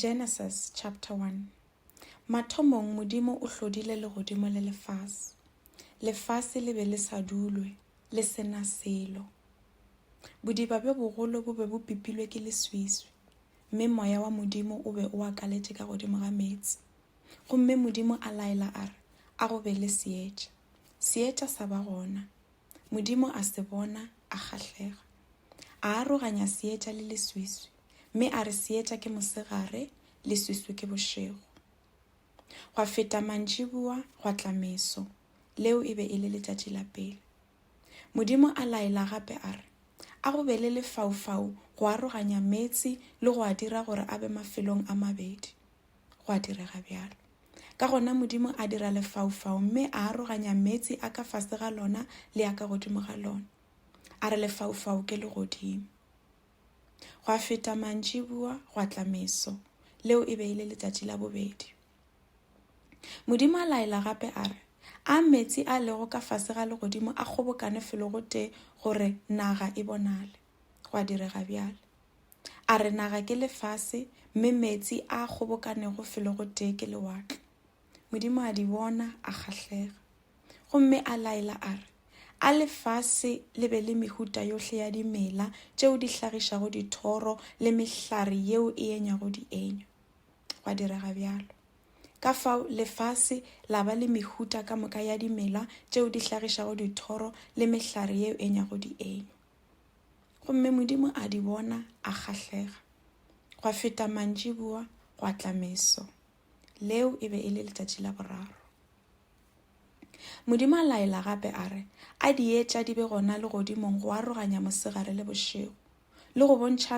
Genesis chapter 1 Mathomong Modimo o hlodile legodimo le lefase. Lefase le be le sa dulwe, le sena selo. Bodiba bjo bogolo bo be bo pipilwe ke leswiswi, mme moya wa Modimo o be o akaletše ka godimo ga meetse. Gomme Modimo a laela a re, A go be le seetša. Seetša sa ba gona. Modimo a se bona, a kgahlega. A aroganya seetša le leswiswi, mme a re seetša ke mosegare, leswiswi ke bošego. Gwa feta mantšiboa, gwa tla meso, leo e be e le letšatši la pele. Modimo a laela gape a re, A go be le lefaufau go aroganya meetse le go a dira gore a be mafelong a mabedi. go a direga bjalo ka gona modimo a dira lefaufau mme a aroganya meetse a ka fase ga lona le a ka godimo ga lona a re lefaufau ke le godimo go a feta mantši bua go a tlameso leo e be e le letsatsi la bobedi modimo a laela gape a re a meetse a lego ka fase ga legodimo a kgobokane felo gote gore naga e bonale gwa direga bjale. A re naga ke lefase, mme meetse a kgobokanego felo go tee ke lewatle. Modimo a di bona, a kgahlega. Gomme a laela a re, A lefase le be le mehuta yohle ya dimela tšeo di hlagišago dithoro le mehlare yeo e enyago dienywa. Gwa direga bjalo. Ka fao lefase la ba le mehuta ka moka ya dimela tšeo di hlagišago dithoro le mehlare yeo e enyago dienywa. Gomme Modimo a di bona, a kgahlega. Gwa feta mantšiboa, gwa tla meso. Leo e be e le letšatši la boraro. Modimo a laela gape a re, a di etša di be gona legodimong go aroganya mosegare le bošego, le go bontšha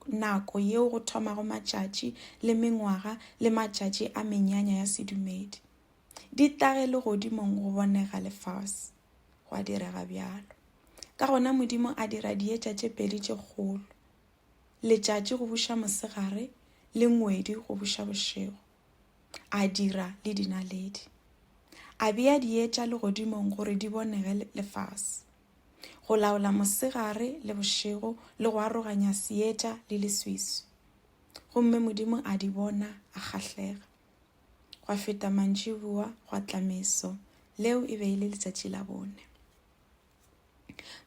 nako yeo go thomago matšatši le mengwaga le matšatši a menyanya ya sedumedi. Di tage legodimong go bonega lefase. gwa direga bjalo ka gona modimo a dira dietša tše pedi tše kgolo letšatši go buša mosegare le ngwedi go buša bošego a dira le dinaledi a bea dietša legodimong gore di bonege lefase go laola mosegare le bošego le go aroganya seetša le leswiswi gomme modimo a di bona a kgahlega gwa feta mantšiboa gwa tla meso leo e be e le letsatši la bone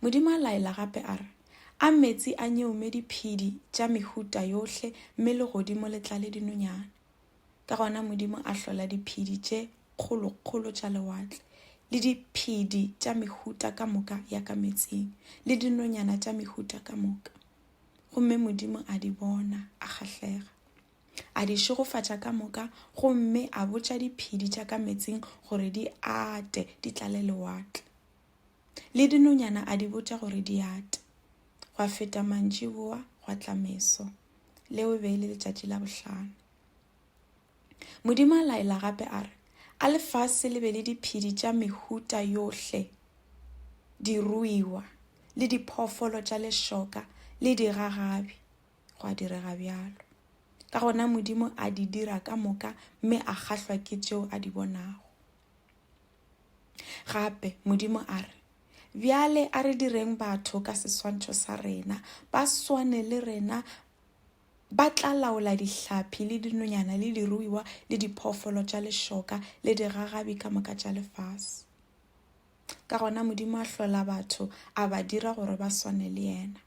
modimo a laela gape a re a metsi a nyeume diphedi tša mehuta yohle mme legodimo le tlale dinonyane ka gona modimo a hlola diphedi tše kgolokgolo tša lewatle le diphedi tša mehuta ka moka ya ka metsing le dinonyana tša mehuta ka moka gomme modimo a di bona a kgahlega a di šegofatša ka moka gomme a botša diphedi tša ka metsing gore di ate di tlale lewatle le dinonyana a di botša gore di ate gwa feta mantši boa gwa tla meso leo e be e le letšatši la bohlano modimo a laela gape a re a lefase le be le diphedi tša mehuta yohle diruiwa le diphoofolo tša lešoka le digagabi go a direga bjalo ka gona modimo a di dira ka moka mme a kgahlwa ke tšeo a di bonago gape modimo a re bjale a re direng batho ka seswantšho sa rena ba swane le rena ba tla laola dihlaphi le dinonyana le diruiwa le diphoofolo tša lešoka le digagabi ka moka tša lefase ka gona modimo a hlola batho a ba dira gore ba swane le yena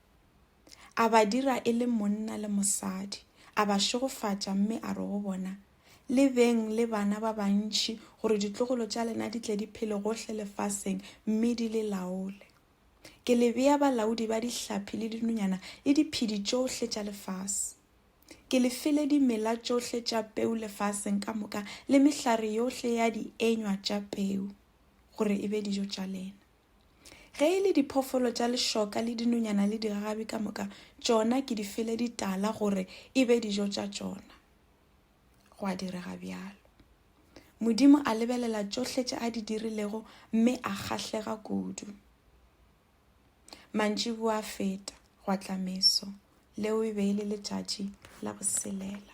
A ba dira e le monna le mosadi, a ba šegofatša mme a re go bona, Le beng le bana ba bantši gore ditlogolo tša lena di tle di phele gohle lefaseng mme di le laole. Ke le bea balaodi ba dihlapi le dinonyana le diphedi tšohle tša lefase. Ke le file dimela tšohle tša peu lefaseng ka moka le mehlare yohle ya dienywa tša peu gore e be dijo tša lena. Ge e le diphoofolo tša lešoka le dinonyana le digagabi ka moka, tšona ke di fele ditala gore e be dijo tša tšona. Gwa direga bjalo. Modimo a lebelela tšohle tše a di dirilego mme a kgahlega kudu. Mantši bua feta gwa tla meso, leo e be e le letšatši la boselela.